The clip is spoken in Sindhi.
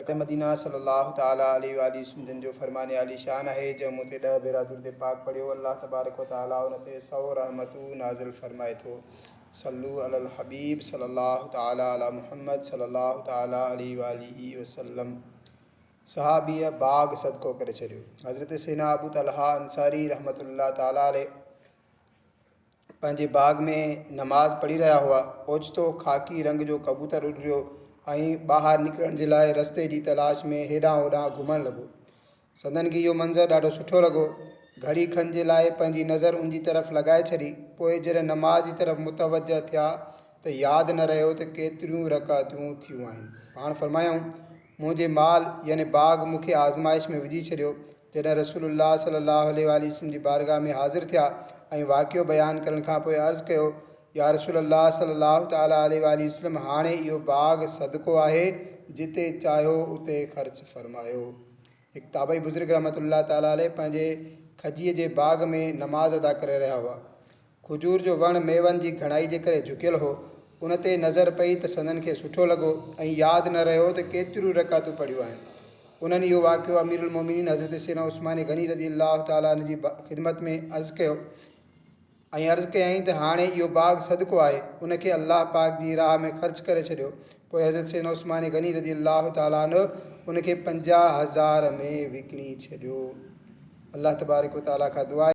مڪه مدينه صلّي اللّٰه تعالٰي عليه واٰله وسلّم جن جو فرمان عالي شان آهي جنهن مون تي ڏهه ڀيرا درود پاڪ پڙهيو الله تبارڪ و تعالٰي ان تي سؤ رحمتون نازل فرمائي ٿو صلّو علي الحبيب صلّي اللّٰه تعالٰي علي محمّد صلّي اللّٰه تعالٰي عليه واٰله وسلّم صحابيء باغ صدقو ڪري ڇڏيو حضرت سينا ابو طلحه انصاري رحمت الله تعالٰي عليه پنهنجي باغ ۾ نماز پڙهي رهيا هئا. اوچتو خاڪي رنگ جو ڪبوتر اڏريو ۽ ٻاهر نڪرڻ جي لاء رستي جي تلاش ۾ هيڏانهن هوڏانهن گهمڻ لڳو. سندن کي اهو منظر ڏاڍو سٺو لڳو. گهڙي کن جي لاء پنهنجي نظر ان جي طرف لڳائي ڇڏي. پوء جڏهن نماز جي طرف متوجهه ٿيا ته ياد نه رهيو ته ڪيتريون رڪعتون ٿيون آهن. پاڻ فرمايائون، منهنجي مال يعني باغ مون کي آزمائش ۾ وجهي ڇڏيو. جڏهن رسول الله صلي الله عليه واٰله وسلم جي بارگاھ ۾ حاضر ٿيا ۽ واقعو بيان ڪرڻ کان پوء عرض ڪيو، يا رسول الله صلي الله تعالٰي عليه واٰله وسلم هاڻي اهو باغ صدقو آهي، جتي چاهيو اتي خرچ فرمايو. هڪ تابعي بزرگ رحمة الله تعالٰي عليه پنهنجي کجيء جي باغ ۾ نماز ادا ڪري رهيا هئا. کجور جو وڻ ميون جي گهڻائي جي ڪري جهڪيل هو. ان تي نظر پئي ته سندن کي سٺو لڳو ۽ ياد نه رهيو ته ڪيتريون رڪعتون پڙهيون آهن. انهن اهو واقعو اميرالمومنين حضرت سيدنا عثمان غني رضي الله تعالٰي عنه جي خدمت ۾ عرض ڪيو ۽ عرض ڪيائين ته هاڻي اهو باغ صدقو آهي، ان کي الله پاڪ جي راهه ۾ خرچ ڪري ڇڏيو. پوء حضرت سيدنا عثمان غني رضي الله تعالٰي عنه ان کي پنجاهه هزار ۾ وڪڻي ڇڏيو. الله تبارڪ وتعالٰي کان دعا آهي.